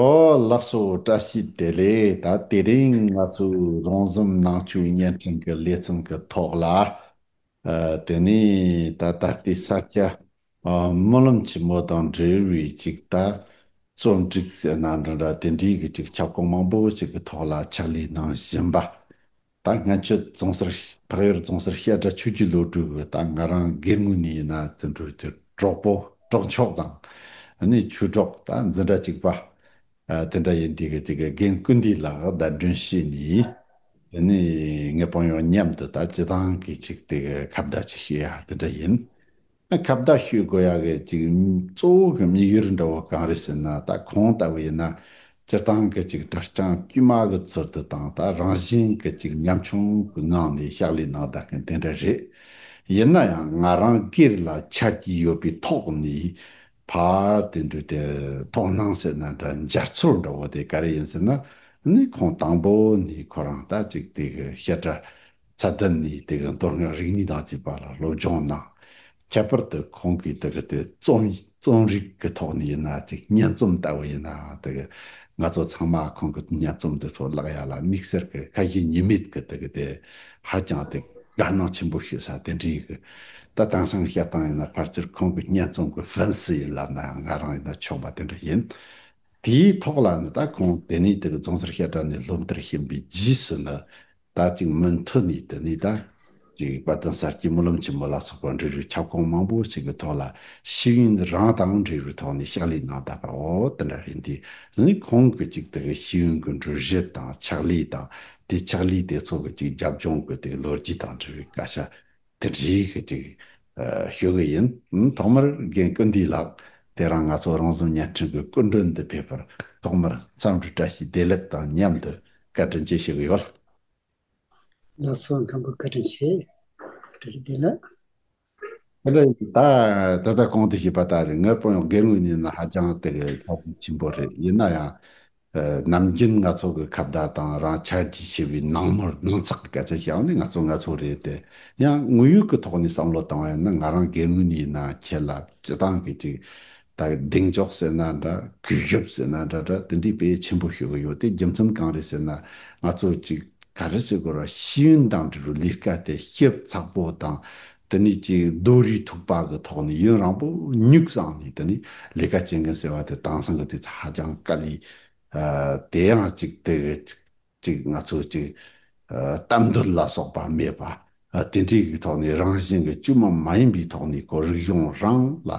ཨོ་ལགས་སོ་བཀྲ་ཤིས་བདེ་ལེགས་ད་དེ་རིང་ང་ཚོའི་རང་གཟུགས་ནང་བཅུད་བརྙན་འཕྲིན་གྱི་ལས་བརྩོན་གྱི་ཐོག་ལ་ཨ་དེ་ནས་ད་ད་ལྟའི་ས་སྐྱ་ཨ་སྨོན་ལམ་ཆེན་མོ་དང་འབྲེལ་བའི་ཅིག་ད་རྩོམ་སྒྲིག་ཟེར་ན་འདྲ་འདྲ་དེ་འདྲའི་གི་ཅིག་ཁྱབ་ཁོངས་མང་པོ་ཅིག་གི་ཐོག་ལ་ཕྱག་ལས་གནང་བཞིན་པ། ད་སྔ་ཆུ་རྫོང་སར་འཕགས་ཡུལ་རྫོང་སར་བཤད་གྲྭ་ཆོས་བརྒྱུད་སློབ་ཕྲུག་གིས་ད་ང་རང་སྒེར་ངོས་ནས་ཡིན་ན་བཙན་བྲོད་ཀྱི་གྲོགས་པོ་གྲོགས་མཆོག་དང། ནི་ཆོས་གྲོགས་ད་འཛིན་གྲྭ་གཅིག་པ། དེ་འདྲ་ཡིན་དུས་ཀྱི་དེ་གི་རྒན་སྐུ་འདི་ལགས་བརྡ་འདྲོན་བྱས་ནས། ནི་ངེད་དཔང་ཡོག་མཉམ་དུ་ད་སྤྱི་དང་གི་ཅིག་དེ་གི་ཁ་བརྡ་ཅིག་བྱེད་ཡ་དེ་འདྲ་ཡིན། ཁ་བརྡ་ཞུས་དགོས་ཡག་གི་ཅིག་གཙོ་བོ་གི་མིག་ཡུལ་འདྲ་བོ་གང་རེད་ཟེར་ན་ད་ཁོང་ལྟ་བུ་ཡིན་ན་སྤྱིར་བཏང་གི་ཅིག་དྲ་རྐྱང་དཀྱུས་མ་གི་ཚུལ་དུ་དང་ད་རང་བཞིན་གི་ཅིག་ཉམ་ཆུང་གི་ངང་ནས་ཕྱག་ལས་གནང་བདག་གི་དེ་འདྲ་རེད་ཡིན་ན་ཡང་ང་རང་སྒེར་ལ་ཆ་རྒྱུས་ཡོད་པའི་ཐོག་ནས་ཕར་དེ་འདྲུས་དེ་དོགས་སྣང་ཟེར་ན་འདྲ་འཇར་ཚུར་འདྲ་བོ་དེ་ག་རེ་ཡིན་ཟེར་ན་ནི་ཁོང་དང་པོ་ནས་ཁོ་རང་ལྟ་ཅིག་དེ་གི་བཤད་གྲྭ་ཚད་ལྡན་ནི་དེ་གའི་མདོ་སྔགས་རིག་གནས་དང་བཅས་པ་ལ་སློབ་སྦྱོང་གནང། ཁྱད་པར་དུ་ཁོང་གིས་དེ་གའི་རྩོམ་རིག་གི་ཐོག་ནས་ཡིན་ན་ཅིག་སྙན་རྩོམ་ལྟ་བུ་ཡིན་ནའང་དེ་གའི་ང་ཚོ་ཚང་མ་ཁོང་གི་སྙན་རྩོམ་འདི་ཚོ་བཀླགས་ཡ་ལ་དམིགས་བསལ་གྱི་ཁ་ཞེ་གཉིས་མེད་ཀྱི་དེ་གའི་དེ་ཧ་ཅང་དེ་དགའ་སྣང་ཆེན་པོ་ཞུ་ས་དེ་འདྲའི་གི་ད་དེང་སང་བཤད་སྟངས་ཡིན་ན་ཕར་ཆེར་ཁོང་གི་སྙན་རྩོམ་གྱི་ཧྥན་སི་ཡིན་ལབ་ནའང་ང་རང་ཡིན་ན་ཆོག་པ་དེ་འདྲ་ཡིན། དེའི་ཐོག་ལ་ནི་ད་ཁོང་དེ་ནས་དེ་གའི་རྫོང་སར་བཤད་གྲྭ་ནས་སློབ་མཐར་ཕྱིན་པའི་རྗེས་སུ་ནི་ད་ཅིག་མུ་མཐུད་ནས་དེ་ནས་ད་ཅིག་བར་དོན་གསར་སྐྱེས་སྨོན་ལམ་ཆེན་མོ་ལ་སོགས་པ་འབྲི་རུའི་ཁྱབ་ཁོངས་མང་པོ་ཞིག་གི་ཐོག་ལ་ཤེས་ཡོན་རང་དང་འབྲི་རུའི་ཐོག་ནས་ཕྱག་ལས་གནང་བསྡད་པ་འོ་དེ་འདྲ་རེད་འདི་ནི་ཁོང་གི་ཅིག་དེ་གི་ཤེས་ཡོན་གྱི་འགྲུལ་བཞུད་དང་ཕྱག་ལས་དང་དེ་ཕྱག་ལས་དེ་ཚོ་གི་ཅིག་རྒྱབ་ལྗོངས་ཀྱི་དེ་གི་ལོ་རྒྱུས་དང་འབྲི་རུའི་བཀའ་ཤག་དེ་འདྲའི་གི་ཅིག་ཞུ་གི་ཡིན། ཐོག་མར་རྒན་བཀུར་འདུས་ལགས་དེ་རང་ང་ཚོ་རང་བཟོ་བརྙན་འཕྲིན་གི་སྐུ་མགྲོན་འདི་ཕེབས་པར་ཐོག་མར་འཚམས་འདྲི་བཀྲ་ཤིས་བདེ་ལེགས་དང་མཉམ་དུ་བཀའ་དྲིན་ཆེ་ཞུ་གི་ཡོད། ལགས་སོ་མཁན་པོ་བཀའ་དྲིན་ཆེ། བཀྲ་ཤིས་བདེ་ལེགས། དེ་ལས་ད་ད་ལྟ་གོང་དུ་ཞུས་པ་ལྟར་ངའི་དཔོན་གྲོགས་རྒན་ངོས་གཉིས་ནི་ཧ་ཅང་དེ་གི་ཆ་རྐྱེན་ཆེན་པོ་རེད་ཡིན་ན་ཡང་ནམ་རྒྱུན་ང་ཚོ་གི་ཁ་བརྡ་དང་རང་འཆར་གྱིས་ཕྱེ་བའི་ནང་མོལ་ནང་ཚགས་ཀྱི་སྐད་ཆ་ཞིག་ཡང་ནི་ང་ཚོ་ང་ཚོ་རེད་དེ། ཡང་དངོས་ཡོད་ཀྱི་ཐོག་ནས་བསམ་བློ་བཏང་བས་ན་ང་རང་སྒེར་ངོས་ནས་ཡིན་ན་ཁྱེད་ལ་སྤྱི་སྟངས་ཀྱི་ཅིག། ད་གི་གདེང་འཇོག་ཟེར་ན་འདྲ་གུས་ཞབས་ཟེར་ན་འདྲ་འདྲ་དེ་འདྲའི་དཔེ་ཆེན་པོ་ཤོད་ཀྱི་ཡོད་དེ་རྒྱུ་མཚན་གང་རེད་ཟེར་ན། ང་ཚོ་ཅིག་ག་རེ་བྱེད་དགོས་ར་ཤེས་ཡོན་དང་འབྲེལ་བའི་ལས་ཀ་དེ་ཞིབ་ཚགས་པོ་དང་དེ་ནས་ཀྱི་རྡོ་རིལ་ཐུག་པ་གི་ཐོག་ནས་ཡུན་རང་པོ་ཉུག་བསང་ནས་དེ་ནས་ལས་ཀ་བྱེད་མཁན་ཟེར་བ་དེ་དྭངས་སང་གི་དུས་ཚོད་ཧ་ཅང་དཀའ་ལས། དེ་ཡང་གཅིག་དེ་གི་གཅིག་ང་ཚོ་གཅིག་གཏམ་འདོད་ལ་སོགས་པ་མེད་པ། དེ་འདྲའི་གི་ཐོག་ནས་རང་བཞིན་གི་དཀྱུས་མ་མ་ཡིན་པའི་ཐོག་ནས་ཀོ་རིག་གཞུང་རང་ལ་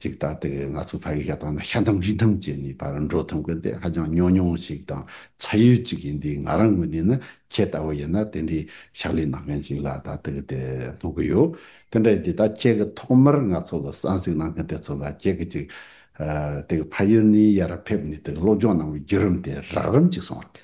ཅིག་ད་ལྟ་གི་ང་ཚོའི་ཕ་ཡུལ་ཤ་སྟག་ན་ཤ་འདམ་རི་འདམ་བཅས་ནི་ཕར་འགྲོ་ཐོན་དགོས་ཏེ་ཧ་ཅང་ཉོ་ཉུང་ཞིག་དང་ཚ་ཡུལ་ཅིག་ཡིན་དུས་ང་རང་ངོས་ནས་ནི་ཁྱེད་ལྟ་བུ་ཡིན་ན་དེ་འདྲའི་ཕྱག་ལས་གནང་མཁན་ཞིག་ལ་ད་ལྟ་གི་དེ་སྨོན་གི་ཡོད། དེ་འདྲ་ཡིན་དུས་ད་ཁྱེད་ཀྱི་ཐོག་མར་ང་ཚོ་ལ་གསང་གཟིགས་གནང་མཁན་དེ་ཚོ་ལ་ཁྱེད་ཀྱིས་ཅིག་དེ་གི་ཕ་ཡུལ་ནས་ཡར་ཕེབས་ནས་དེ་གི་སློབ་སྦྱོང་གནང་བའི་བརྒྱུད་རིམ་དེ་རགས་རིམ་ཅིག་གསུང་རོགས།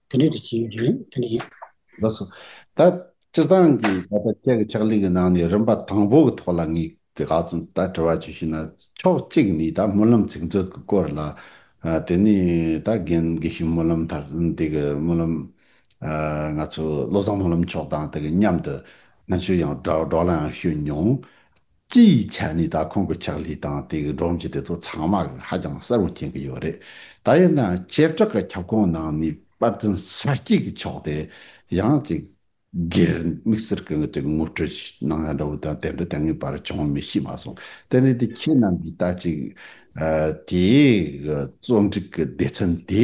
དེ་འདྲའི་དུས་ཆེན་རེད་དེ་འདྲ་ཡིན། ལགས་སོ། ད་སྤྱིར་བཏང་གི་ད་ལྟ་ཁྱེད་ཀྱི་ཕྱག་ལས་ཀྱི་ནང་ནས་རིམ་པ་དང་པོ་གི་ཐོག་ལ་ངས་དེ་ག་ཙམ་ད་དྲི་བ་བྱོས་ཤེ་ན་ཕྱོགས་གཅིག་ནས་ད་སྨོན་ལམ་ཚིག་མཛོད་ཀྱི་སྐོར་ལ། དེ་ནས་ད་རྒན་དགེ་བཤེས་སྨོན་ལམ་ཐར་འདི་གི་སྨོན་ལམ། ང་ཚོ་བློ་བཟང་སྨོན་ལམ་མཆོག་དང་དེ་གཉམ་དུ་ང་ཚོས་ཡང་སྦྲགས་སྦྲགས་ལ་ཡང་ཤོད་མྱོང། སྤྱི་ཡི་ཆ་ནས་ད་ཁོང་གི་ཕྱག་ལས་དང་དེ་གི་སྒྲོམ་གཞི་དེ་ཚོ་ཚང་མ་གི་ཧ་ཅང་གསལ་བོ་མཁྱེན་གི་ཡོད་རེད། ད་ཡིན་ནའང་བྱེ་བྲག་གི་ཁྱབ་ཁོངས་ནང་ནས་པར་དོན་གསར་སྐྱེས་ཀྱི་ཕྱོགས་དེ་ཡང་གཅིག་སྒེར་དམིགས་སེར་གི་ངོས་ཀྱི་ངོ་སྤྲོད་གནང་ཡ་འདྲ་བོ་དང་དེ་འདྲ་དེ་སྔའི་བར་བྱུང་མེད་ཤེས་མ་སོང། དེ་ནི་དེ་ཁྱེད་རྣམས་ཀྱིས་ད་ཅིག་དེའི་གི་རྩོམ་སྒྲིག་གི་སྡེ་ཚན་དེ་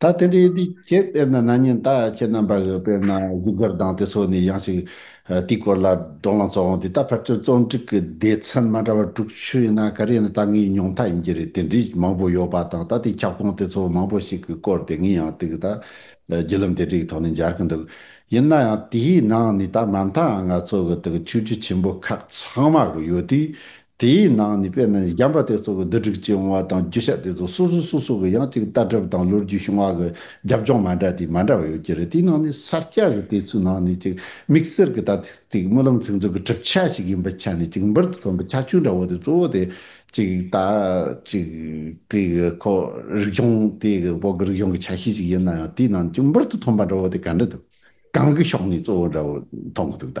ད་དེ་འདྲའི་དུས་ཁྱེད་དཔེར་ན་ན་ཉིན་ད་ཁྱེད་རྣམ་པ་གི་དཔེར་ན་གཟུགས་དགར་སྡང་དེ་ཚོ་ནི་ཡང་ཞིག་དེའི་སྐོར་ལ་བགྲོ་ལང་ཚོགས་འོང་དུས་ད་ཕར་ཚུར་རྩོམ་སྒྲིག་གི་སྡེ་ཚན་མ་འདྲ་བ་དྲུག་ཆུད་ཡིན་ན་ག་རེ་ཡིན་ན་ད་ངའི་མྱོང་མཐའ་ཡིན་གྱི་རེད་དེ་འདྲའི་མང་པོ་ཡོད་པ་དང་ད་དེའི་ཁྱབ་ཁོངས་དེ་ཚོ་མང་པོ་ཞིག་གི་སྐོར་དེ་ངས་ཡང་ཏིག་གི་ད་བརྒྱུད་ལམ་དེ་འདྲའི་གི་ཐོག་ནས་འབྱར་གི་འདུག་ཡིན་ན་ཡང་དེའི་ནང་ནས་ད་མ་མཐའ་ཡང་ང་ཚོ་གི་ཏིག་གི་ཆོས་བརྒྱུད་ཆེན་པོ་ཁག་ཚང་མ་གི་ཡོད་དུས་དེའི་ནང་ནས་དཔེར་ན་བྱམས་པ་དེ་ཚོ་གི་བསྡུ་སྒྲིག་བྱས་འོང་བ་དང་རྒྱུ་ཆ་དེ་ཚོ་སོ་སོ་སོ་སོ་གི་ཡང་གཅིག་ལྟ་གྲུབ་དང་ལོ་རྒྱུས་བྱུང་བ་གི་རྒྱབ་ལྗོངས་མ་འདྲ་དེ་མ་འདྲ་བ་ཡོད་ཀྱི་རེད་དེའི་ནང་ནས་གསར་སྐྱ་གི་དེ་ཚོའི་ནང་ནས་གཅིག་དམིགས་བསལ་གི་ད་ཐེངས་ཀྱི་སྨོན་ལམ་ཚིག་མཛོད་ཀྱི་གྲུབ་ཆ་ཞིག་ཡིན་པ་ཆ་ནས་གཅིག་འབུར་དུ་ཐོན་པའི་ཁྱད་ཆོས་འདྲ་བོ་དེ་གཙོ་བོ་དེ་གཅིག་ད་གཅིག་དེ་གི་ཁོ་རིག་གཞུང་དེ་གི་བོད་ཀྱི་རིག་གཞུང་གི་ཆ་ཤས་ཤིག་ཡིན་ན་ཡང་དེའི་ནང་ནས་གཅིག་འབུར་དུ་ཐོན་པ་འདྲ་བོ་དེ་ག་འདྲ་འདུག་གང་གི་ཕྱོགས་ནས་གཙོ་བོ་འདྲ་བོ་མཐོང་གི་འདུག་ད།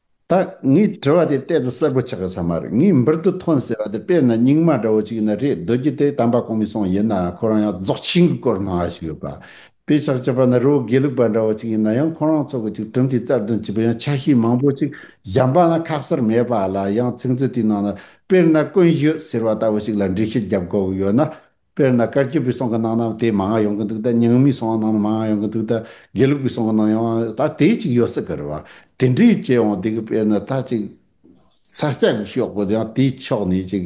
ད་ངས་དྲི་བ་དེ་གཏད་དུ་གསལ་པོ་ཆགས་ཡོད་ས་མ་རེད་ངས་འབུར་དུ་ཐོན་ཟེར་བ་དེ་དཔེར་ན་སྙིང་མ་འདྲ་བོ་ཅིག་ཡིན་ན་རེད་རྡོ་རྗེ་དེ་དམ་པ་གོང་མའི་གསུང་ཡིན་ནའང་ཁོ་རང་ཡང་རྫོགས་ཆེན་གྱི་སྐོར་སྨྲ་བ་ཞིག་ཡོད་པ་དཔེ་ཆགས་ཅེས་པ་ནི་རི་བོ་དགེ་ལུགས་པ་འདྲ་བོ་ཅིག་ཡིན་ན་ཡང་ཁོ་རང་ཚོ་གི་ཅིག་གྲུབ་མཐའི་རྩ་དོན་བྱེད་པའི་ཡང་ཆ་ཤས་མང་པོ་ཅིག་གཞན་པ་ན་ཁག་གསར་མེད་པ་ལ་ཡང་ཚིག་མཛོད་དེའི་ནང་ན་དཔེར་ན་ཀུན་ཤོད་ཟེར་བ་ལྟ་བུ་ཞིག་ལ་འགྲེལ་བཤད་རྒྱབ་དགོས་ཀྱི་ཡོད་ན་དཔེར་ན་བཀའ་སྐྱིད་པའི་སོང་གི་ནང་ནའང་དེ་མང་ཡོང་གི་འདུག་ད་ཉང་མའི་སོང་ནང་ན་མང་ཡོང་གི་འདུག་ད་དགེ་ལུགས་པའི་སོང་གི་ནང་ཡང་ད་དེ་གཅིག་ཡོད་སྲིད་གི་རེད་བ། དེ་འདྲའི་བཅས་འོང་འདུག་གི་དཔེར་ན་ད་ཅིག་ས་སྐྱ་གི་ཤོག་བུ་དེའང་དེའི་ཕྱོགས་ནས་ཅིག་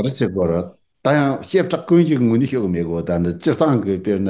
རེད་སྲིད་གི་རེད། ད་ཡང་བཤད་གྲགས་ཀུན་གྱི་ངོས་ནས་ཤོད་གི་མེད་གི་འོ་ད་ནི་སྤྱིར་བཏང་གི་དཔེར་ན་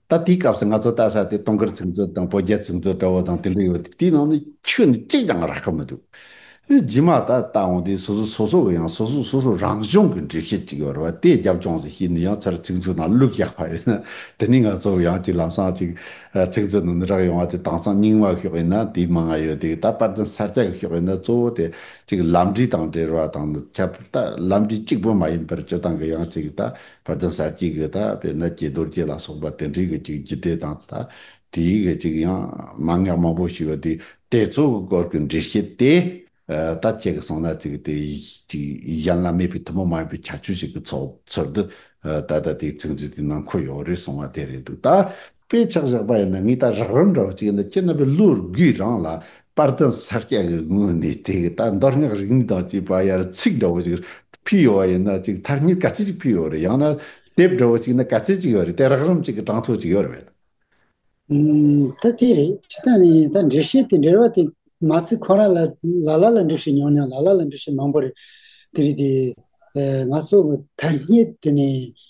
ད་དེའི་སྐབས་སུ་ང་ཚོ་བལྟ་ས་དེ་སྟོང་སྐར་ཚིག་མཛོད་དང་བོད་རྒྱ་ཚིག་མཛོད་འདྲ་བོ་དང་དེ་འདྲ་ཡོད་དེ་དེའི་ནང་ནས་ཁྱོད་ནི་གཅིག་ཀྱང་རག་གི་མི་འདུག་རྗེས་མ་ད་ལྟ་འོང་དུས་སོ་སོ་སོ་སོ་གི་ཡང་སོ་སོ་སོ་སོ་རང་གཞུང་གི་འགྲེལ་བཤད་ཅིག་ཡོད་རེད་བ་དེ་རྒྱབ་ལྗོངས་སུ་ཤེས་ནས་ཡང་ཚར་ཚིག་མཛོད་ནང་བླུགས་བཞག་པ་ཡིན་ན་དེ་ནས་ང་ཚོ་ཡང་ཅིག་ལམ་སང་ཅིག་ཚིག་མཛོད་ནང་ནས་རག་ཡོང་བ་དེ་དྭངས་གཙང་རྙིང་མ་ཤོག་ཡིན་ན་དེའི་མིང་ང་ཡོད་དེ་ད་པར་དེ་གསར་རྒྱག་གི་ཤོག་ཡིན་ན་གཙོ་བོ་དེ་ཅིག་ལམ་འབྲས་དང་འབྲེལ་བ་དང་ཁྱབ་པར་ལྟ་ལམ་འབྲས་གཅིག་པོ་མ་ཡིན་པར་སྤྱི་བཏང་གི་ཡང་ཅིག་ད་བར་དོའི་སར་སྐྱེས་གི་དག་པའི་ནད་ཀྱིས་རྡོ་རྗེ་ལ་སོགས་པ་དེ་འདྲའི་གི་ཅིག་རྒྱུད་སྡེ་དང་དག་དེའི་གི་ཅིག་ཡང་མ་ངག་མང་པོ་ཞིག་དེ་ལྟའི་གཙོ་བོའི་སྐོར་གི་འགྲེལ་བཤད་དེ་ལྟར་དཔྱད་གི་སོང་ན་ཅིག་དེ་ཅིག་གཞན་ལ་མེད་པའི་ཐུན་མོང་མ་ཡིན་པའི་ཁྱད་ཆོས་ཞིག་གི་ཚོགས་ཚུལ་དུ་ད་ལྟ་དེའི་ཚིག་མཛོད་དེའི་ནང་འཁོད་ཡོད་རེད་གསུང་བ་དེ་རེད་འདུག་ད། དཔེ་ཆགས་བཞག་པ་ཡིན་ན་ངའི་ལྟར་རགས་རིམ་འདྲ་བོ་ཅིག་ཡིན་ན་སྤྱིར་ན་པའི་བློར་སྒོས་རང་ལ་དཔར་རྟེན་གསར་རྐྱང་གི་ངོས་ནས་དེ་གའི་ལྟ་འདོར་སྔགས་རིག་གནས་དང་བཅས་པ་ཡར་ཚིག་འདྲ་བོ་ཅིག་ཕུལ་ཡོད་པ་ཡིན་ན་ཅིག་མཐར་གཉིས་ཀ་རྩེ་གཅིག་ཕུལ་ཡོད་རེད་ཡང་ན་དེབ་འདྲ་བོ་ཅིག་ན་ག་རྩེ་གཅིག་ཡོད་རེད་དེ་རགས་རིམ་ཅིག་གི་གྲངས་ཐོ་ཅིག་ཡོད་རེད། ད་དེ་རེད་ཇི་ལྟར་ནས་ཡིན་ད་འགྲེལ་བཤད་དེ་འགྲེལ་བ་དེ་མ་ཚིག་ཁོ་རང་ལ་ལ་ལ་ལ་འགྲེལ་བཤད་ཉུང་ཉུང་ལ་ལ་ལ་འགྲེལ་བཤད་མང་པོ་རེད་དེ་རེད་དེ། ང་ཚོ་དར་རྙེད་དེ་ནས་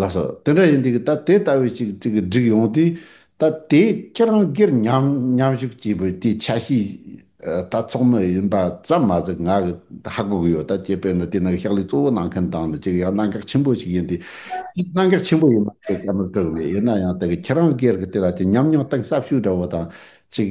ལགས་སོ། དེ་འདྲ་ཡིན་དུས་ད་དེ་ལྟ་བུའི་ཅིག་གཅིག་གི་སྒྲིག་ཡོང་དུས་ད་དེ་ཁྱེད་རང་སྒེར་མཉམ་ཞུགས་སྐྱིད་པོས་དེ་ཆ་ཤས་ད་ཚོགས་མི་ཡིན་པ་ཙམ་མ་ཟད་ང་གི་ད་ཧ་གོ་གི་ཡོད་ད་ཅེས་དཔེར་ན་དེ་ནང་གི་ཕྱག་ལས་གཙོ་བོ་གནང་མཁན་དང་ནི་ཅིག་ཡང་གནང་གག་ཆེན་པོ་ཞིག་ཡིན་དུས་དེ་གནང་གག་ཆེན་པོ་ཡིན་མ་རེད་བཀའ་མོལ་སྤྲོད་གི་མེད་ཡིན་ན་ཡང་ད་གི་ཁྱེད་རང་སྒེར་གི་དེ་ལ་ཅིག་མཉམ་མྱོང་སྟངས་ཟབ་ཤོས་འདྲ་བོ་དང་ཅིག་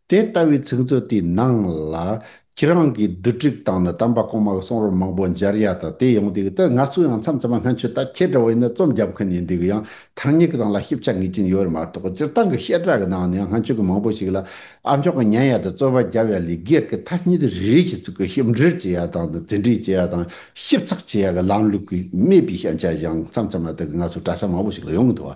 དེ་ལྟ་བུའི་ཚིག་མཛོད་དེའི་ནང་ལ། ཁྱེད་རང་གིས་བསྡུ་སྒྲིག་བཏང་ནས་དམ་པ་གོང་མ་གི་གསུང་རབ་མང་པོ་མཇལ་ཡ་དང་དེ་ཡོང་དུས་ད་ང་ཚོ་ཡང་མཚམས་མཚམས་སྔན་ཆད་ལྟར་ཁྱེད་འདྲ་བ་ཡིན་ན་རྩོམ་རྒྱབ་མཁན་ཡིན་དུས་ཡང་ཐག་ཉེ་གི་དང་ལ་ཞིབ་ཆ་ངེས་ཅན་ཡོད་རེད་མ་གཏོགས་སྤྱིར་བཏང་གི་བཤད་གྲྭ་གི་ནང་ནས་ཡང་སྔན་ཆད་ཀྱི་མང་པོ་ཞིག་ལ་ཨ་མཆོག་གི་ཉན་ཡ་དང་རྩོད་པ་བརྒྱབ་ཡ་ལས་སྒེར་གྱི་ཐ་སྙད་དེ་རེ་རེ་བཞིན་ཚུགས་ཀྱི་ཞིབ་འགྲེལ་བྱེད་ཡ་དང་དང་རྩིས་འགྲེལ་བྱེད་ཡ་དང་ཞིབ་ཚགས་བྱེད་ཡ་གི་ལམ་ལུགས་ཀྱི་མེད་པའི་ཤེས་བྱ་ཞིག་ཡང་མཚམས་མཚམས་ལ་ད་གི་ང་ཚོ་གྲྭ་ས་མང་པོ་ཞིག་ལ་ཡོང་གི་འདུག་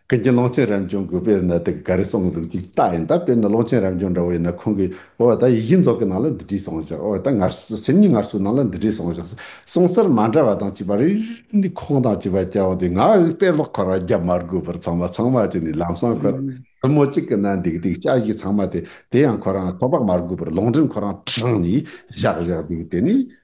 ཀུན་གྱིས་ཀློང་ཆེན་རབ་འབྱུང་གི་དཔེ་ལ་ནི་དེ་ག་རེ་གསུངས་འདུག་ཅིག་བལྟ་ཡིན་ད་དཔེར་ན་ཀློང་ཆེན་རབ་འབྱུང་འདྲ་བོ་ཡིན་ན་ཁོང་གིས་ཨོ་ད་ཡིག་བཞི་རྫོགས་ཀྱི་ནང་ལ་འདི་བྲིས་སོང་བཞག་ཨོ་ད་ངར་སེམས་ཉིད་ངར་སོའི་ནང་ལ་འདི་བྲིས་སོང་བཞག་གསུང་སར་མ་འདྲ་བ་དང་གཅིག་པ་རེ་རེ་ནས་ཁོང་དང་གཅིག་པ་སྐྱ་བོ་དེས་ང་ཨོའི་དཔེ་ཀློག་འཁོར་བ་བརྒྱབ་མ་དགོས་པར་ཚང་མ་ཚང་མ་གཅིག་ནས་ལམ་སང་ཁོ་རང་བུ་མོ་གཅིག་གི་ནང་འདེགས་འདེགས་སྐྱ་བཞི་ཚང་མ་དེ་དེ་ཡང་ཁོ་རང་ཁོ་པགས་མ་དགོས་པར་ལུང་འདྲེན་ཁོ་རང་དྲངས་ནས་བཞག་བཞག་འདུག་དེ་ནས་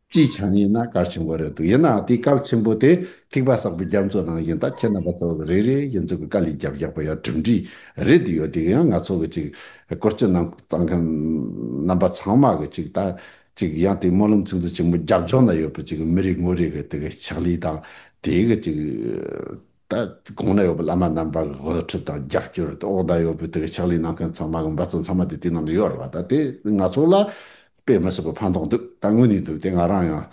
སྤྱིའི་ཆ་ནས་ཡིན་ན་སྐར་ཆེན་པོ་རེད་འདུག་ཡིན་ནའང་དེའི་སྐར་ཆེན་པོ་དེ་ཐིགས་པ་གསར་པའི་རྒྱ་མཚོ་ནང་ཡིན་སྟབས་ཁྱེད་རྣམ་པ་ཚོ་རེ་རེ་ཡིན་ཚོད་ཀྱི་དཀའ་ལས་རྒྱབ་རྒྱག་པ་ཡང་གྲུབ་འབྲས་རེད་འདུག་ཡོད་དེ་ཡང་ང་ཚོ་གི་ཅིག་སྐོར་སྤྱི་གནང་གཙང་མཁན་རྣམ་པ་ཚང་མ་གི་ཅིག་ལྟ་ཅིག་ཡང་དེའི་སྨོན་ལམ་ཚིག་མཛོད་ཆེན་མོ་རྒྱབ་ལྗོངས་ན་ཡོད་པའི་ཅིག་མི་རེ་ངོ་རེ་གི་དེ་གི་ཕྱག་ལས་དང་དེའི་གི་ཅིག་ད་གོང་ན་ཡོད་པའི་བླ་མ་རྣམ་པ་གི་དབུ་ཁྲིད་དང་རྒྱབ་སྐྱོར་དེ་འོག་ན་ཡོད་པའི་དེ་གི་ཕྱག་ལས་གནང་མཁན་ཚང་མ་གི་འབད་བརྩོན་ཚང་མ་དེ་དེའི་ནང་དུ་ཡོད་རེད་བ་ད་དེ་ང་ཚོ་ལ་དཔེ་མི་སྲིད་པའི་ཕན་ཐོག་འདུག་ད་དངོས་ནས་འདུག་དེ་ང་རང་ཡང་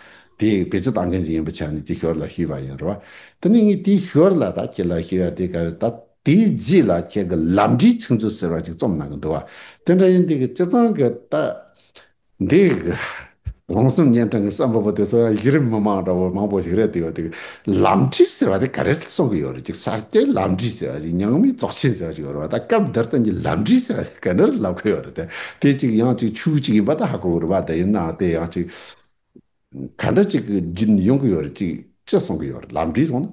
དེ་བེད་སྤྱོད་གཏང་མཁན་ཞིག་ཡིན་པའི་ཆ་ནས་དེ་ཞོར་ལ་ཞུས་པ་ཡིན་རེད་བ། དེ་ནས་ངས་དེ་ཞོར་ལ་ད་ཁྱེད་ལ་ཞུས་ཡ་དེ་ག་རེད་ད་དེའི་རྗེས་ལ་ཁྱེད་གི་ལམ་འབྲས་ཚིག་མཛོད་ཟེར་བ་ཅིག་རྩོམ་གནང་གི་འདུག་བ། དེ་འདྲ་ཡིན་དེ་གི་སྤྱིར་བཏང་གི་ད་འདི། རོང་ཟོམ་གཉན་འཕྲང་གི་བསམ་པ་པོ་དེ་ཚོ་ཡང་གཞི་རིམ་མི་མང་འདྲ་བོ་མང་པོ་ཞིག་རེད་དེ་ཡོད་དུས་ལམ་ཁྲིད་ཟེར་བ་དེ་ག་རེ་གསུང་གི་ཡོད་རེད་ཅིག་གསར་སྐྱེས་ལམ་ཁྲིད་ཟེར་བ་ཞིག་ཉང་མིའི་རྫོགས་ཆེན་ཟེར་བ་ཞིག་ཡོད་རེད་བ་ད་སྐབས་འདིར་དེ་གཉིས་ལམ་ཁྲིད་ཟེར་བ་དེ་ག་འདྲར་ལབ་གི་ཡོད་རེད་དེ་དེ་ཅིག་ཡང་ཅིག་ཆུ་ཅིག་ཡིན་པ་ད་ཧ་གོ་གི་རེད་བ་དེ་ཡིན་ནའང་དེ་ཡང་ཅིག་ག་འདྲ་ཅིག་གི་རྒྱུན་ཡོང་གི་ཡོད་རེད་ཅིག་ཅེས་གསུང་གི་ཡོད་རེད་ལམ་ཁྲིད་གསུང་ན།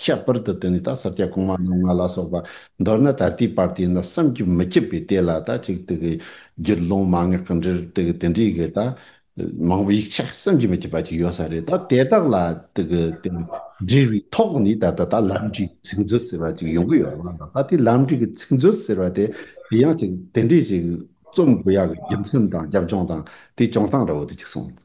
ཁྱད་པར་དུ་དེ་ནི་ད་སར་སྐྱ་གོང་མ་རྣམ་ལྔ་ལ་སོགས་པ་མདོར་ན་ད་ལྟའི་བར་དེ་ན་བསམ་རྒྱུ་མི་ཁྱབ་པའི་ལྟས་ལ་ད་ཅིག་ཏུ་གི། རྒྱུད་ཀློང་མ་ངེས་གང་འདྲིར་དེ་གི་དེ་འདྲིའི་གི་ད། མང་པོ་ཡིག་ཆ་བསམ་རྒྱུ་མི་ཁྱབ་པ་ཅིག་ཡོད་ས་རེད་ད་དེ་དག་ལ་དེ་གི་དེ་འབྲེལ་བའི་ཐོག་ནས་ད་ལྟ་ད་ལམ་འབྲས་ཀྱི་ཚིག་མཛོད་ཟེར་བ་ཅིག་ཡོང་གི་ཡོད་ལགས་ད་དེ་ལམ་འབྲས་ཀྱི་ཚིག་མཛོད་ཟེར་བ་དེ་དེ་ཡང་ཅིག་དེ་འདྲས་ཅིག་རྩོམ་དགོས་ཡག་གི་རྒྱུ་མཚན་དང་རྒྱབ་ལྗོངས་དང་དེ་བྱུང་སྟངས་ར་བོ་དེ་ཅིག་གསུངས།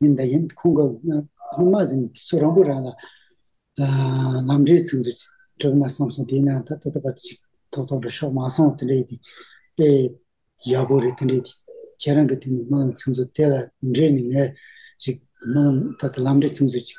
ཡིན་ད་ཡིན་ཁོང་གི་ཕ་མ་ཟིན་ཚོ་རང་བུ་རང་ལ་ལམ་འབྲས་ཚིག་མཛོད་གྲུབ་ན་བསམ་སོང་དེ་ན་ད་ད་ད་པ་ཅིག་ཐོག་ཐོག་འདྲ་ཤོག་མ་སོང་དེ་འདྲས་དེ་ཡག་པོ་རེད་དེ་འདྲས་ཁྱེད་རང་གི་དེ་ནས་སྨོན་ལམ་ཚིག་མཛོད་དེ་ལ་འབྲས་ནས་ངས་ཅིག་སྨོན་ལམ་ད་ད་ལམ་འབྲས་ཚིག་མཛོད་ཅིག།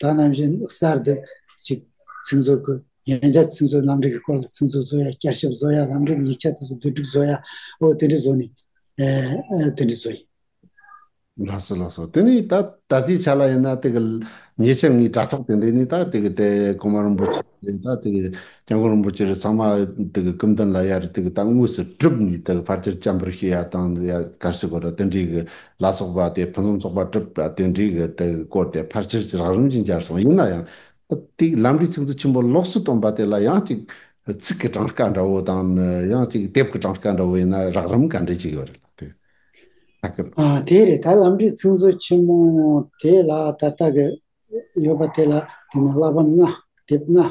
ད་ནམ་བཞིན་གསར་དུ་ཅིག་ཚིག་མཛོད་ཁུལ་ཡན་ཆད་ཚིག་མཛོད་ལམ་འབྲས་ཀྱི་སྐོར་ལ་ཚིག་མཛོད་བཟོ་ཡ་བསྐྱར་ཞིབ་བཟོ་ཡ་ལམ་འབྲས་ཀྱི་ཡིག་ཆ་དེ་ཚོ་བསྡུ་སྒྲིག་བཟོ་ཡ་འོ་དེ་འདྲས་བཟོ་ནི་དེ་འདྲས་བཟོ་ཡི། ལགས་སོ་ལགས་སོ་དེ་ནི་ད་ད་ལྟའི་ཆ་ལ་ཡིན་ན་དེ་གི་ཉེ་ཆར་ངའི་དྲ་ཐོག་དེ་འདྲས་ནི་ད་དེ་གི་དེ་ཀོང་མ་རིན་པོ་ཆེ་ད་དེ་གི་སྐྱབས་མགོན་རིན་པོ་ཆེར་ཚང་མ་དེ་གི་སྐུ་མདུན་ལ་ཡར་དེ་གི་ལྟ་དངོས་སུ་གྲུབ་ནས་དེ་གི་ཕར་ཆེར་བཅར་འབུར་ཞུ་ཡ་དང་ཡར་གར་སི་སྐོར་བསྟན་འགྲིག་གི་ལ་སོགས་པ་དེ་ཕུན་སུམ་ཚོགས་པ་གྲུབ་བསྟན་འགྲིག་གི་དེ་གི་སྐོར་དེ་ཕར་ཆེར་རགས་རིམ་གྱིས་འབྱར་སོང་ཡིན་ན་ཡང་དེ་གི་ལམ་འབྲས་ཚིག་མཛོད་ཆེན་པོ་ལོགས་སུ་བཏོན་པ་དེ་ལ་ཡང་ཅིག་ཚིག་གི་གྲངས་ཀ་འདྲ་བོ་དང་ཡང་ཅིག་དེབ་གི་གྲངས་ཀ་འདྲ་བོ་ཡིན་ན་རགས་རིམ་ག་འདྲས་ཅིག་ཡོད་རེད་ལགས་དེ་ཨ་ཁུ། དེ་རེད་ད་ལམ་འབྲས་ཚིག་མཛོད་ཆེན་མོ་དེ་ལ་ད་ལྟ་གི་ཡོད་པ་དེ་ལ་དེ་ནི་བླ་བྷམ་ལྔ་དེབ་ལྔ་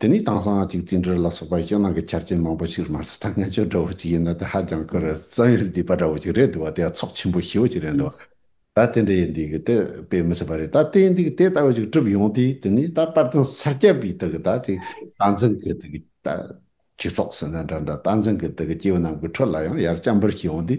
དེ་ནས་དྭངས་གཙང་གཅིག་བཙན་བྲོད་ལ་སོགས་པ་ཞེད་སྣང་གི་ཆ་རྐྱེན་མང་པོ་ཞིག་རུ་མར་སོ་ཐར་ངན་སྤྱོད་འདྲ་བོ་ཅིག་ཡིན་ན་དེ་ཧ་ཅང་དཀོན་རེད་བཙན་ཡུལ་སྡིག་པ་འདྲ་བོ་ཅིག་རེད་འདུག་བ་དེ་ཡང་ཚོགས་ཆེན་པོ་ཞེ་བོ་ཅིག་རེད་འདུག་བ་ད་དེ་འདྲ་ཡིན་འདི་གི་ད་དཔེ་མི་སྲིད་པ་རེད་ད་དེ་འདི་གི་དེ་ལྟ་བུ་ཅིག་གྲུབ་ཡོང་དུས་དེ་ནས་ད་དཔལ་ལྡན་ས་སྐྱ་པའི་དུ་གི་ད་ཅིག་རྟ་མགྲིན་གི་དུ་གི་ད་ཁྱི་ཚོགས་ཟེར་ན་འདྲ་འདྲ་རྟ་མགྲིན་གི་དུ་གི་སྐྱེ་བོ་རྣམས་ཀྱི་ཁྲོད་ལ་ཡང་ཡར་སྐྱ་འབུར་ཞིག་ཡོང་དུས་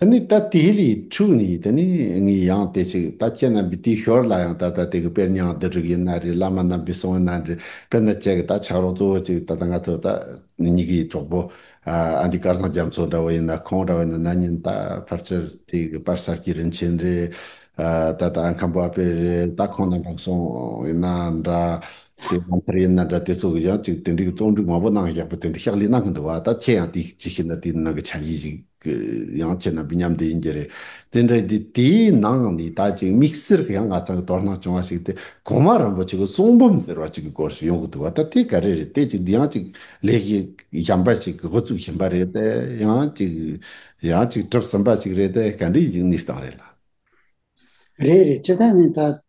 དེ་ནས་ད་དེའི་ལས་འཕྲོས་ནས་དེ་ནས་ངས་ཡང་དེ་ཅིག་ད་ཁྱེད་རྣམ་པའི་དེའི་ཞོར་ལ་ཡང་ད་ལྟ་དེ་གི་དཔེར་ཉང་བསྡུ་རིགས་ཡིན་ན་རེད་བླ་མ་རྣམ་པའི་གསུང་ཡིན་ན་རེད་དཔེར་ན་ཁྱེད་ཀྱི་ད་ཆགས་རོགས་གཙོ་བོ་ཅིག་ད་ལྟ་ང་ཚོ་ད་གཉིས་ཀའི་གྲོགས་པོ་ཨ་འདི་དཀར་བཟང་རྒྱ་མཚོ་འདྲ་བོ་ཡིན་ན་ཁོང་འདྲ་བོ་ཡིན་ན་ན་ཉིན་ད་ཕར་ཆེར་དེ་གི་པར་གསར་གྱི་རིན་ཆེན་རེད་ད་ད་ཨ་ཁམས་པོ་ཨ་པེ་རེད་ད་ཁོང་རྣམ་པ་གསུང་ཡིན་ན་འདྲ་དེ་ཨ་མཐར་ཡིན་ན་འདྲ་དེ་ཚོ་གི་ཡང་ཅིག་དེ་འདྲའི་གི་རྩོམ་སྒྲིག་མང་པོ་གནང་ཞག་པོ་དེ་འདྲའི་ཕྱག་ལས་གནང་གི་འདུག་བ་ད་ཁྱེད་ཡང་དེ་ཅིག་ཤེས་ན་དེ་ནང་གི་ཆ་ཡིས་ཤིག། གི། ཡང་བྱས་ན་བི་ཉམས་དེ་ཡིན་གྱི་རེད། དེ་འདྲ་དེ་དེའི་ནང་ནས་ད་ཅིག་དམིགས་བསལ་གྱི་ཡང་ང་ཚང་གི་དོ་སྣང་བྱུང་བ་ཞིག་དེ་གོང་མ་རིན་པོ་ཆེ་གི་གསུང་འབུམ་ཟེར་བ་ཅིག་གི་སྐོར་ཞིག་ཡོང་གི་འདུག་བ་ད་དེ་ག་རེ་རེད་དེ་ཅིག་ཡང་ཅིག་ལས་ཀའི་ཞན་པ་ཞིག་གི་འགོ་བཙུགས་བཞིན་པ་རེད་དེ་ཡང་ཅིག་ཡང་ཅིག་གྲུབ་ཟིན་པ་ཞིག་རེད་དེ་ག་འདྲའི་ཡིག་ནུས་སྟངས་རེད་ལ། རེད་རེད་སྤྱིར་བཏང་ནས་ད།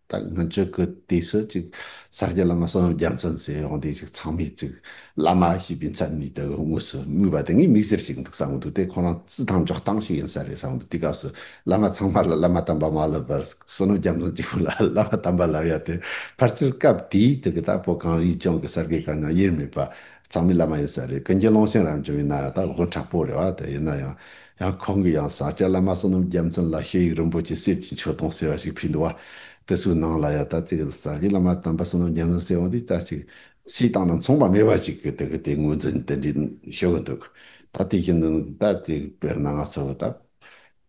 ད་སྔོན་ཆོས་གོས་དེ་སུ་ཅིག་ས་སྐྱ་བླ་མ་གསང་བའི་རྒྱ་མཚོ་ཟེར་ཡོང་དེ་ཅིག་ཚང་མས་ཅིག་བླ་མ་ཞེས་པའི་མཚན་ནས་དེ་དངོས་སུ་སྨོས་པ་དེ་ངས་མིག་སེར་ཞིག་འདུག་བསམ་གྱི་འདུག་དེ་ཁོ་རང་རྩིས་ཐང་འཇོག་སྟངས་ཤིག་ཡིན་ས་རེད་བསམ་གྱི་འདུག་དེ་སྐབས་སུ་བླ་མ་ཚང་མ་ལ་བླ་མ་དམ་པ་མ་ལབ་པར་སུ་ནོ་རྒྱ་མཚོ་གཅིག་པུ་ལ་བླ་མ་དམ་པ་ལབ་ཡ་དེ་ཕར་ཆེར་སྐབས་དེའི་དུས་ཀྱི་ད་བོད་གངས་རིའི་ལྗོངས་ཀྱི་གསར་སྐྱེས་གང་ཡང་དབྱེར་མེད་པ་ཚང་མས་བླ་མ་ཡིན་ས་རེད་ཀུན་མཁྱེན་ཀློང་ཆེན་རང་བྱུང་ཡིན་ན་ཡང་ད་དགོན་དྲག་པོ་རེད་བ་དེ་ཡིན་ན་ཡང་ཡང་ཁོང་གིས་ཡང་ས་སྐྱ་བླ་མ་བསོད་ནམས་རྒྱལ་མཚན་ལ་ཤེལ་ཡིག་རིན་པོ་ཆེ་གསེར་གྱི་མཆོད་སྡོང་ཟེར་བ་ཞིག་ཕུལ་འདུག་བ་དེ་ཚོའི་ནང་ལ་ཡང་ད་ལྟའི་གི་ས་སྐྱའི་བླ་མ་དམ་པ་བསོད་ནམས་རྒྱལ་མཚན་གསེར་དབང་འདི་ལྟ་ཅིག་སྲིད་ཏང་དང་མཚུངས་པ་མེད་པ་ཅིག་གི་དེ་གི་དེ་ངོས་འཛིན་དེ་འདྲའི་ཤོད་གི་འདུག་ད་དེ་བཞིན་དུ་ད་དེ་དཔེར་ན་ང་ཚོ་གི་ད་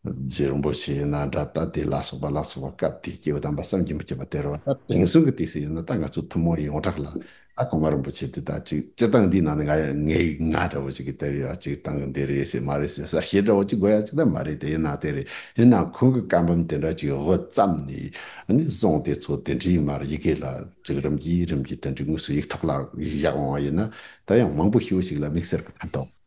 རྗེ་རིན་པོ་ཆེ་ཡིན་ན་འདྲ་ད་དེ་ལ་སོགས་པ་ལ་སོགས་པ་སྐབས་དེའི་སྐྱེས་བུ་དམ་པ་བསམ་གྱིས་མི་ཁྱབ་པ་དེར་བ་ད་དེང་སང་གི་དུས་སུ་ཡིན་ན་ད་ང་ཚོ་ཐུན་མོང་ཡོངས་གྲགས་ལ་ཨ་གོང་མ་རིན་པོ་ཆེ་འདི་ལྟ་ཅིག་སྤྱི་སྟངས་འདིའི་ནང་ནས་ང་ཡང་ངའི་ང་འདྲ་བོ་ཅིག་གིས་དེ་ཡོད་ཅིག་སྟངས་ཀྱི་འདི་རེད་ཟེར་མ་རེད་ཟེར་ས་ཞེ་འདྲ་བོ་ཅིག་དགོས་ཡ་ཅིག་ད་མ་རེད་དེ་ཡིན་ན་དེ་རེད་ཡིན་ན་ཁོང་གི་བཀའ་འབུམ་དེ་འདྲ་ཅིག་ཡོད་བརྩམས་ནས་ནས་བཟུང་དེ་ཚོ་དེ་འདྲའི་མར་ཡི་གེ་ལ་ཅིག་རིམ་གྱིས་རིམ་གྱིས་དེ་འདྲའི་དངོས་སུ་ཡིག་ཐོག་ལ་བཞག་འོང་བ་ཡིན་ན་ད་ཡང་མང་པོ་ཤི་བོ་ཞིག་ལ་མིག་སེར་གྱི་ཕན་ཐོགས།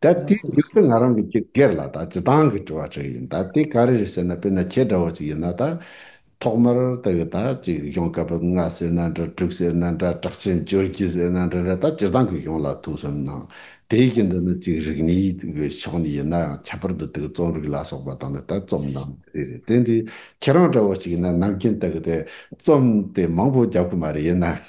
ད་དེའི་རྒྱུ་མཚན་ང་རང་གི་ཅི་སྒེར་ལ་དང་ཅི་ཏང་གི་དྲི་བ་དྲིས་ཡིན་ད་དེ་ག་རེ་རེད་ཟེར་ན་དཔེར་ན་ཁྱེད་འདྲ་བོ་ཅིག་ཡིན་ན་ད། ཐོག་མར་ད་གི་ད་ཅིག་གཞུང་སྐབས་པ་ལྔ་ཟེར་ན་འདྲ་དྲུག་ཟེར་ན་འདྲ་དྲག་ཆེན་བཅུ་གཅིག་ཟེར་ན་འདྲ་རེད་ད་སྤྱིར་བཏང་གི་གཞུང་ལ་ཐུགས་གསུམ་ནང་དེའི་གཞི་འདི་ནི་ཅིག་རིག་གནས་ཀྱི་ཕྱོགས་ནས་ཡིན་ན་ཡང་ཁྱད་པར་དུ་དེ་གི་རྩོམ་རིག་ལ་སོགས་པ་དང་ནི་ད་རྩོམ་ནང་རེ་རེ་དེ་འདི་ཁྱེད་རང་འདྲ་བོ་ཅིག་ཡིན་ན་ནམ་རྒྱུན་ད་གི་དེ་རྩོམ་དེ་མང་པོ་རྒྱབ་གི་མ་རེད་ཡིན་ན།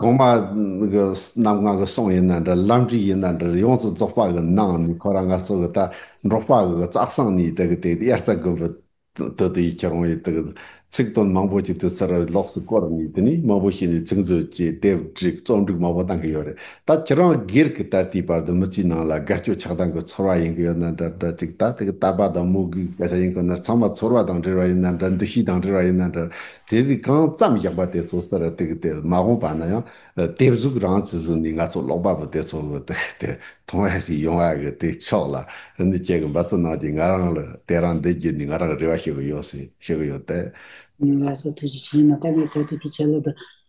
གོང་མ་གི་རྣམ་སྔགས་ཀྱི་གསུང་ཡིན་ན་འདྲ་ལམ་ཁྲིད་ཡིན་ན་འདྲར་ཡོངས་སུ་རྫོགས་པ་གི་ནང་ནས་ཁོ་རང་ངལ་རྩོལ་གྱི་དག་འབྲོག་པ་གི་རྩ་གསང་ནས་དེ་གི་དེ་དབྱར་རྩྭ་དགུན་འབུ་དུད་དུ་ཡི་ཁྱི་རོང་ཡི་དུ་གི་ཚིག་དོན་མང་པོ་ཞིག་དུས་ཚོད་རེར་ལོགས་སུ་བསྐོར་ནས་དེ་ནས་མང་པོ་ཞིག་ནས་ཚིག་མཛོད་བཅས་དེབ་བསྒྲིགས་རྩོམ་སྒྲིག་མང་པོ་གཏང་གི་ཡོད་རེད་ད་ཁྱི་རང་སྒེར་གི་ད་ལྟའི་བར་དུ་མི་ཚེའི་ནང་ལ་དགའ་སྐྱོ་ཆགས་སྡང་གི་ཚོར་བ་ཡིན་གི་ཡོད་ན་འདྲ་འདྲ་ཅིག་ད་དེ་གི་ད་པ་དང་མོ་གི་སྐད་ཆ་ཡིན་གི་ན་ཚང་མ་ཚོར་བ་དང་འབྲེལ་བ་ཡིན་ན་འདྲ་འདུ་ཤེས་དང་འབྲེལ་བ་ཡིན་ན་འདྲར་དེ་རིགས་གང་བརྩམས་བཞག་པ་དེ་ཚོ་སར་བཏེགས་སྟེ་མ་དགོངས་པ་ན་ཡང་དེབ་གཟུགས་རང་གི་གཟུགས་ནི་ང་ཚོ་ཀློག་པ་པོ་དེ་ཚོ་མཐོང་བ་ཞིག་ཡོང་བ་གི་དེ་ཕྱོགས་ལ་ནི་ཁྱེད་ཀྱི་འབད་རྩོལ་གནང་རྗེས་ང་རང་ལ་དེ་རང་འདི་བརྒྱུད་ནས་ང་རང་རེ་བ་ཞུ་གི་ཡོད་ཟེར་ཞུ་གི་ཡོད་དེ། ངལ་གསོ་ཐུགས་རྗེ་ཆེ་ཡིན་ན་ད་ངས་གལ་ཏེ་དེ་ཆད་ལོ་དང།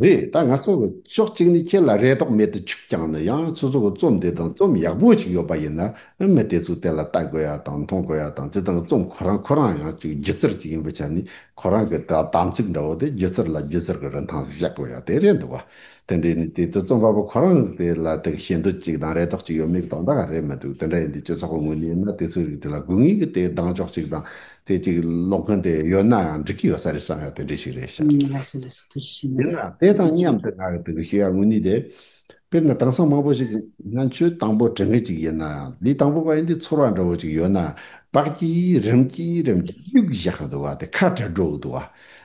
རེད་ད་ང་ཚོ་ཕྱོགས་གཅིག་ནས་ཁྱེད་ལ་རེ་དོགས་མེད་དུ་ཆུག་ཀྱང་ནི་ཡང་ཚོད་ཚོད་ཀྱི་རྩོམ་འདི་དང་རྩོམ་ཡག་པོ་ཅིག་ཡོད་པ་ཡིན་ན་མི་དེ་ཚོས་དེ་ལ་ལྟ་དགོས་ཡ་དང་མཐོང་དགོས་ཡ་དང་དེ་དང་རྩོམ་ཁོ་རང་ཁོ་རང་ཡང་ཅིག་སྒྱུ་རྩལ་ཅིག་ཡིན་པའི་ཆ་ནས་ཁོ་རང་གི་དག་དམ་ཚིག་འདྲ་བོ་དེ་སྒྱུ་རྩལ་ལ་སྒྱུ་རྩལ་གྱི་རིན་ཐང་ཞིག་གཞག་དགོས་ཡ་དེ་རེད་འདུག་བ་དེ་འདྲས་ནི་དེ་ཚོས་རྩོམ་པ་པོ་ཁོ་རང་དེ་ལ་དེ་ཤེས་འདོད་ཅིག་དང་རེ་དོགས་ཅིག་ཡོད་མེད་གི་དོགས་འདྲ་ག་རེ་མི་འདུག་དེ་འདྲ་ཡིན་དུས་སྤྱི་ཚོགས་ཀྱི་ངོས་ནས་ཡིན་ན་དེ་ཚོའི་རིགས་དེ་ལ་དགོས་ངེས་ཀྱི་དེའི་གདངས་ཕྱོགས་ཅིག་དང་དེ་ཅིག་ཀློག་མཁན་དེ་ཡོད་ན་ཡང་འགྲིག་གི་ཡོད་ས་རེད་བསམ་ཡག་དེ་འདྲས་ཞིག་རེད་ཤག། ལེགས་སོ་ལེགས་སོ་ཐུགས་རྗེ་ཆེ་ཡིན་ན་ནས་དེ་དང་མཉམ་དུ་ང་གི་དྲི་གཞི་ཡང་དངོས་གནས་དེ། དཔེར་ན་དེང་སང་མང་པོ་ཞིག་ང་ཚོས་དང་པོ་དྲི་ངེས་ཅིག་ཡིན་ན་ཡང་ལས་དང་པོ་བ་ཡིན་དུས་ཚོར་བ་འདྲ་བོ་ཅིག་ཡོད་ན་བག་ཀྱི་རིམ་གྱིས་རིམ་གྱིས་གཡུག་བཞག་གི་འདུག་བ་དེ་ཁ་བྲལ་འགྲོ་གི་འདུག་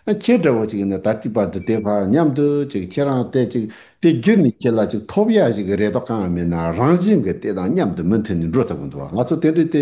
བ། ཁྱེད་འདྲ་བོ་ཅིག་ཡིན་ན་ད་ལྟི་བར་དུ་དེ་བར་མཉམ་དུ་ཅིག་ཁྱེད་རང་བལྟས་ཅིག་དེ་བརྒྱུད་ནས་ཁྱེད་ལ་ཅིག་ཐོབ་ཡག་ཞིག་རེ་དོགས་གང་ཡང་མེད་ན་རང་བཞིན་གྱི་དེ་དང་མཉམ་དུ་མུ་མཐུད་ནས་འགྲོ་ཐུབ་གི་འདུག་བ་ང་ཚོ་དེ་འདྲས་དེ་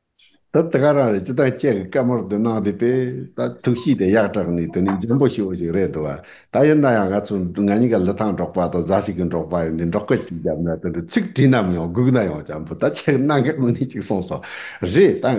ད་དེ་ག་རང་རེད་ཅི་ཐག་ཁྱེད་ཀྱི་སྐད་མར་དུ་སྣང་དེ་པས་ད་ཐུགས་གཤིས་དེ་ཡག་དྲག་ནས་དེ་ནི་འཇམ་པོ་ཤི་བོ་ཞིག་རེད་འདུག་བ་ད་ཡིན་ན་ཡང་ང་ཚོ་ང་གཉིས་ཀ་ལི་ཐང་འབྲོག་པ་དང་གཟའ་ཞིག་གི་འབྲོག་པ་ཡིན་དུས་འབྲོག་སྐད་ཅིག་བརྒྱབ་ན་དེ་འདྲའི་ཚིག་བྲིས་ནམ་ཡང་སྒུག་ན་ཡང་འཇམ་པོ་ད་ཁྱེད་ཀྱི་གནང་སྐབས་ནི་ཅིག་གསུངས་སོ། རེད་ད།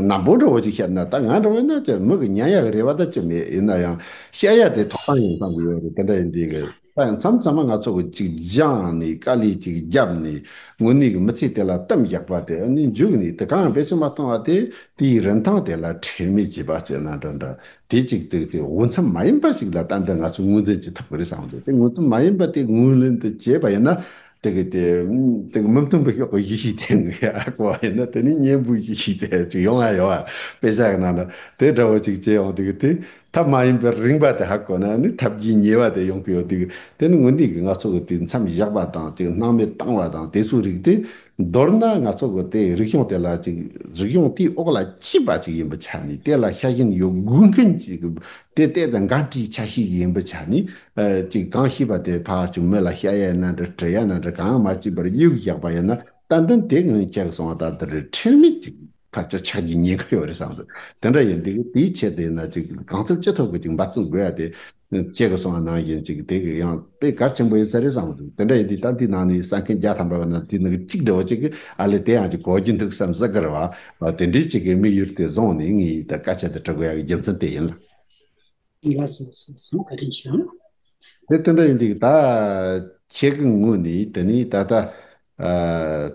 ནམ་བུ་འདྲ་བོ་ཅིག་བཤད་ན་ད་ང་འདྲ་བོ་ན་ཅི་མི་གི་ཉན་ཡ་གི་རེད་བ་ད་ཅི་མེད་ཡིན་ན་ཡང་བཤད་ཡ་དེ་ཐོག་དང་ཡང་བསམ་གི་ཡོད་རེད་དེ་འདྲ་ཡིན་དུས་ཀྱི། ད་ཡང་མཚམས་མཚམས་མ་ང་ཚོ་གི་ཅིག་སྦྱངས་ནས་དཀའ་ལས་ཅིག་བརྒྱབ་ནས་དངོས་གནས་ཀྱི་མི་ཚེ་དེ་ལ་གཏམ་རྒྱག་པ་དེ་ནི་མཇུག་ནས་དེ་གའང་བེད་སྤྱོད་མ་བཏང་བ་དེ་དེའི་རིན་ཐང་དེ་ལ་ཁྲེལ་མེད་བྱས་པ་བྱས་ན་འདྲ་འདྲ་དེ་ཅིག་བརྩེགས་ཏེ་འོས་འཚམས་མ་ཡིན་པ་ཞིག་ལ་ཏན་ཏན་ང་ཚོས་ངོས་འཛིན་བྱེད་ཐུབ་ཀྱི་རེད་བསམ་གི་འདུག་དེ་ངོས་འཛིན་མ་ཡིན་པ་དེ་ངོས་ལེན་དུ་བྱས་པ་ཡིན་ན་དེ་གི་དེ་དེ་གི་མི་མཐུན་པའི་ཤོག་གི་གཞི་ཞིག་དེ་ནི་ཨ་ཁོ་བ་ཡིན་ན་དེ་ནི་གཉེན་པོའི་གཞི་ཞིག་དེ་ཅིག་ཡོང་ང་ཡོང་བ་དཔེ་ཆ་གི་ནང་ན་དེ་འདྲ་བོ་ཅིག་བྱས་ཡོང་དེ་གི་དེ་ཐབས་མ་ཡིན་པའི་རིངས་པ་དེ་ཧ་གོ་ན་ནི་ཐབས་ཀྱི་ཉེས་པ་དེ་ཡོང་གི་ཡོད་དུས་དེ་ནི་དངོས་འདས་ཀྱི་ངག་ཚོགས་ཀྱི་དུས་མཚམས་བཞག་པ་དང་ཅིག་སྣང་མེད་བཏང་བ་དང་དེ་ཚོའི་རིགས་ཏེ། མདོར་ན་ངག་ཚོགས་ཀྱི་དེ་རིག་གཞུང་དེ་ལ་ཅིག་རིག་གཞུང་དེའི་འོག་ལ་སྐྱེས་པ་ཅིག་ཡིན་པར་ཆ་ནས་དེ་ལ་ཤ་ཞེན་ཡོད་དགོས་མཁན་ཅིག་དེ་གཏད་དེ་འགའ་འཁྲིའི་ཆ་ཤས་ཡིན་པར་ཆ་ནས་ཅིག་གང་ཤེས་པ་དེ་ཕར་ཅིག་མི་ལ་ཤ་ཡ་ན་འདྲ་གྲི་ཡ་ན་འདྲ་གང་ཡང་མ་སྐྱེས་པར་དབྱུག་བཞག་པ་ཡིན་ན་ཏན་ཏན་དེ་ངང་ཁྱེད་ཀྱི་གསུང་བ་ལྟར་དུ་རེད་ཁྲེལ་མེད་ཅིག། བར་ཆ་ཆགས་ཀྱི་ཉེན་ཁ་ཡོད་རེད་བསམ་སོང། དེ་འདྲ་ཡིན་དུས་དེའི་ཆེད་དུ་ཡིན་ན་ཅིག་གང་ཐུབ་ཅི་ཐུབ་ཀྱིས་ཅིག་འབའ་ཚུགས་དགོས་ཡ་དེ། སྐྱེ་དགོས་སོང་བ་ནང་བཞིན་ཅིག་དེ་གི་ཡང་དཔེ་གལ་ཆེན་པོ་ཡིན་ས་རེད་བསམ་སོང། དེ་འདྲ་ཡིན་དུས་ད་འདི་ནང་ནས་ས་མཁན་བརྒྱ་ཐམ་པ་བ་ན་དེ་ནི་གཅིག་འདྲ་བོ་ཅིག་གི་ཨ་ལས་དེ་ཡང་ཅིག་གོ་རྒྱུ་འདུག་བསམ་བསམ་ཀི་རེད་བ། དེ་འདྲའི་ཅིག་གི་དམིགས་ཡུལ་དེ་བཟུང་ནས་ངས་ད་བཀའ་ཆད་དུ་དྲི་དགོས་ཡ་གི་རྒྱུ་མཚན་དེ་ཡིན་ལ། འདི་ལ་སོགས་སོགས་གསུམ་བཀའ་དྲིན་ཆེ། དེ་དེ་འདྲ་ཡིན་འདུག་ད། ཁྱེད་ཀྱི་ངོས་ནས་དེ་ནི་ད་ལྟ།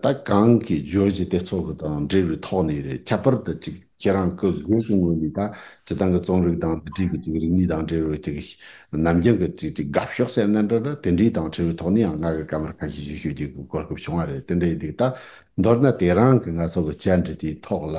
ད་གང་གི་རྗོད་བྱེད་དེ་ཚོ་གི་དང་འབྲེལ་བའི་ཐོག་ནས་རེད་ཁྱད་པར་དུ་ཅིག་ཁྱེད་རང་ཀྱི་དགོས་ཀྱི་ངོས་ནས་ད་ཇི་ལྟང་གི་རྩོམ་རིག་དང་འདི་འདྲའི་ཅིག་རིག་གནས་དང་འབྲེལ་བའི་ཅིག་ནམ་རྒྱུན་གྱི་ཅིག་ཅིག་དགའ་ཕྱོགས་ཟེར་ན་འདྲ་འདྲ་དེ་འདྲའི་དང་འཕྲད་པའི་ཐོག་ནས་ཡང་ང་གི་སྐད་མར་ཁ་ཤས་ཞིག་ཤོད་རྒྱུ་གི་གོ་སྐབས་བྱུང་བ་རེད་དེ་འདྲ་ཡིན་འདུག་ད་མདོར་ན་དེ་རང་གི་ང་ཚོ་གི་བཅར་འདྲི་དེའི་ཐོག་ལ